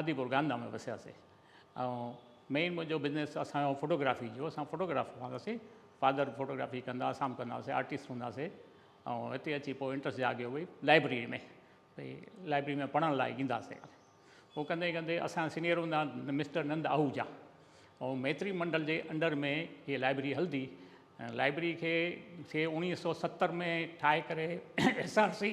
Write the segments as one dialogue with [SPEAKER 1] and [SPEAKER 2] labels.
[SPEAKER 1] آدي پور گاندا ۾ وسياسي ۽ مين منهنجو بزنس اسان جو فوٽو گرافي جو اسان فوٽو گرافر هوندا سي فادر فوٽو گرافي ڪندا اسان به ڪندا سي آرٽسٽ هوندا سي ۽ هتي اچي پوء انٽرسٽ جاڳيو ڀئي لائبريري ۾ ڀئي لائبريري ۾ پڙهڻ لاء ايندا سي هو ڪندي ڪندي اسان سينيئر هوندا مسٽر نند آهوجا ۽ ميتري منڊل جي انڊر ۾ هي لائبريري هلدي لائبريري کي سي اوڻيهه سو ستر ۾ ٺاهي ڪري ايس آر سي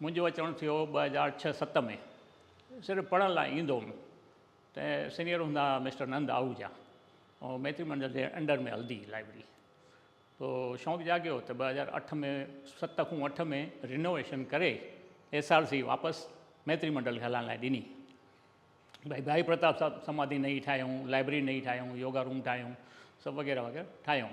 [SPEAKER 1] منهنجو اچڻ ٿيو ٻه هزار ڇهه ست ۾ صرف پڙهڻ لاء ايندو هوم ته سينئر هوندا هئا مسٽر نند آهوجا ۽ ميتري منڊل جي انڊر ۾ هلندي هئي لائبرري پوء شوق جاڳيو ته ٻه هزار اٺ ۾ ست کون اٺ ۾ رينوويشن ڪري ايس آر سي واپس ميتري منڊل کي هلائڻ لاء ڏني ڀائي ڀائي پرتاب صاحب سماڌي نئي ٺاهيون لائبرري نئي ٺاهيون يوگا روم ٺاهيون سڀ وغيره وغيره ٺاهيون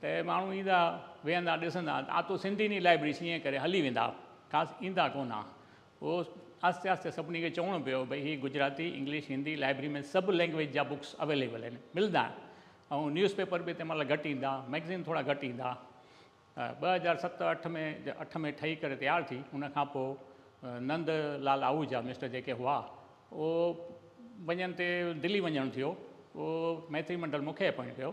[SPEAKER 1] ته ماڻهو ايندا ويهندا ڏسندا آ تو سنڌي ني لائبرري سي ائين ڪري هلي ويندا خاص ايندا ڪونه آ پوء آهستي آهستي سڀني کي چوڻو پيو ڀئي هي گجراتي انگلش هندي لائبرري ۾ سڀ لينگويج جا بڪس اويليبل آهن ملدا ۽ نيوز پيپر به تنهن مهل گهٽ ايندا مئگزين ٿورا گهٽ ايندا ته ٻه هزار ست اٺ ۾ اٺ ۾ ٺهي ڪري تيار ٿي ان کان پوء نند لال آهوجا مسٽر جيڪي هئا اهو وڃڻ تي دلي وڃڻ ٿيو پوء ميتري منڊل مون کي اپوائنٽ ڪيو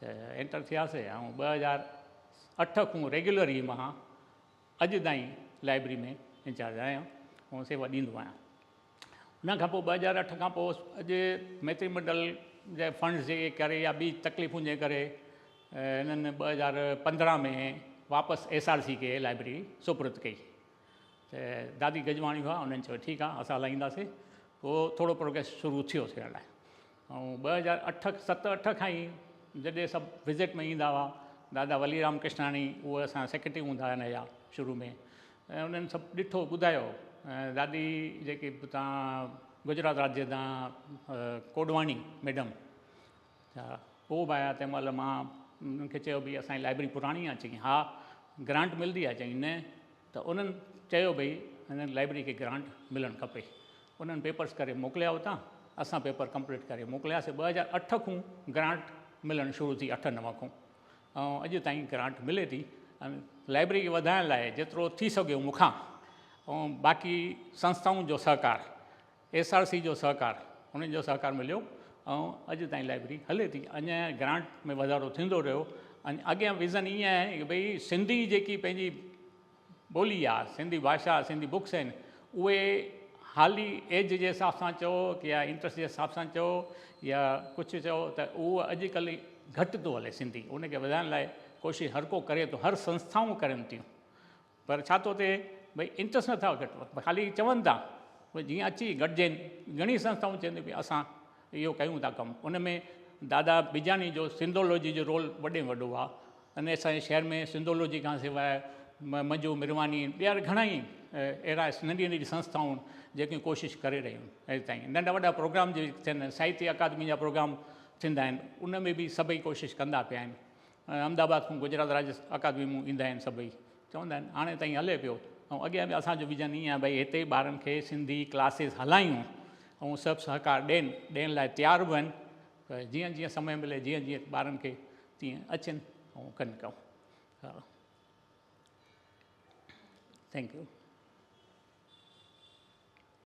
[SPEAKER 1] ته انٽر ٿياسي ۽ ٻه هزار اٺ کون ريگيولر ئي مان اڄ تائين لائبرري ۾ انچارج آهيان ۽ سيوا ڏيندو آهيان ان کان پوء ٻه هزار اٺ کان پوء اڄ ميتري منڊل جي فنڊز جي ڪري يا ٻي تڪليفن جي ڪري هنن ٻه هزار پندرهن ۾ واپس ايس آر سي کي لائبرري سپرد ڪئي ته دادي گجواڻي هئا انهن چيو ٺيڪ آهي اسان هلائينداسي پوء ٿورو پروگريس شروع ٿيو ٿيڻ لاء ۽ ٻه هزار اٺ ست اٺ کان ئي جڏهن سڀ وزٽ ۾ ايندا هئا دادا ولي رام ڪشناڻي اهي اسان جا سيڪريٽري هوندا هئا هن جا شروع ۾ ۽ انهن سڀ ڏٺو ٻڌايو ۽ دادي جيڪي به تان گجرات راڄ جي تان ڪوڏواڻي ميڊم ڇا هو به آيا تنهن مهل مان انهن کي چيو ڀي اسان جي لائبرري پراڻي آهي چئي ها گرانٽ ملندي آهي چئي نه ته انهن چيو ڀئي هن لائبرري کي گرانٽ ملڻ کپي. انهن پيپرس ڪري موڪليا اتان. اسان پيپر ڪمپليٽ ڪري موڪلياسي. ٻه هزار اٺ کون گرانٽ ملڻ شروع ٿي اٺ نو کون ۽ اڄ تائين گرانٽ ملي ٿي ۽ لائبرري کي وڌائڻ لاء جيترو ٿي سگهيو مون کان ۽ باقي سنستائن جو سهڪار ايس آر سي جو سهڪار انهن جو سهڪار مليو ۽ اڄ تائين لائبرري هلي ٿي اڃا گرانٽ ۾ وڌارو ٿيندو رهيو ۽ اڳيان ويزن ائين آهي ته ڀئي سنڌي جيڪي پنهنجي ٻولي آهي سنڌي ڀاشا سنڌي بڪس آهن اهي حالي ايج جي حساب سان چئو يا انٽرسٽ جي حساب سان چئو يا ڪجهه چئو ته اهو اڄ ڪلهه گهٽ ٿو هلي سنڌي ان کي وڌائڻ لاء ڪوشش هر ڪو ڪري ٿو هر سنسٿائون ڪرن ٿيون پر ڇا تو تي ڀئي انٽرسٽ نه ٿا گهٽ ڀئي خالي چون ٿا ڀئي جيئن اچي گڏجين گهڻي سنسٿائون چين ٿيون ڀئي اسان اهو ڪيون ٿا ڪم ان ۾ دادا بجاڻي جو سنڌولوجي جو رول وڏي ۾ وڏو آ ان اسان جي شهر ۾ سنڌولوجي کان سواء منجو مرواني ٻيا وري گهڻا ئي اهڙا ننڍي ننڍي سنسٿائون جيڪي ڪوشش ڪري رهيون اڄ تائين ننڍا وڏا پروگرام جي ٿين ساهتيه اڪادمي جا پروگرام ٿيندا آهن ان ۾ به سڀئي ڪوشش ڪندا پيا آهن ۽ احمد آباد کان گجرات راجس اڪادمي مون ايندا آهن سڀئي چوندا آهن هاڻي تائين هلي پيو ۽ اڳيان به اسان جو ويزن ايئن آهي ڀئي هتي ٻارن کي سنڌي ڪلاسز هلايون ۽ سڀ سهڪار ڏين ڏيڻ لاء تيار به آهن ته جيئن جيئن سمي ملي جيئن جيئن ٻارن کي تيئن اچن ۽ ڪن ڪم ها ٿينڪ يو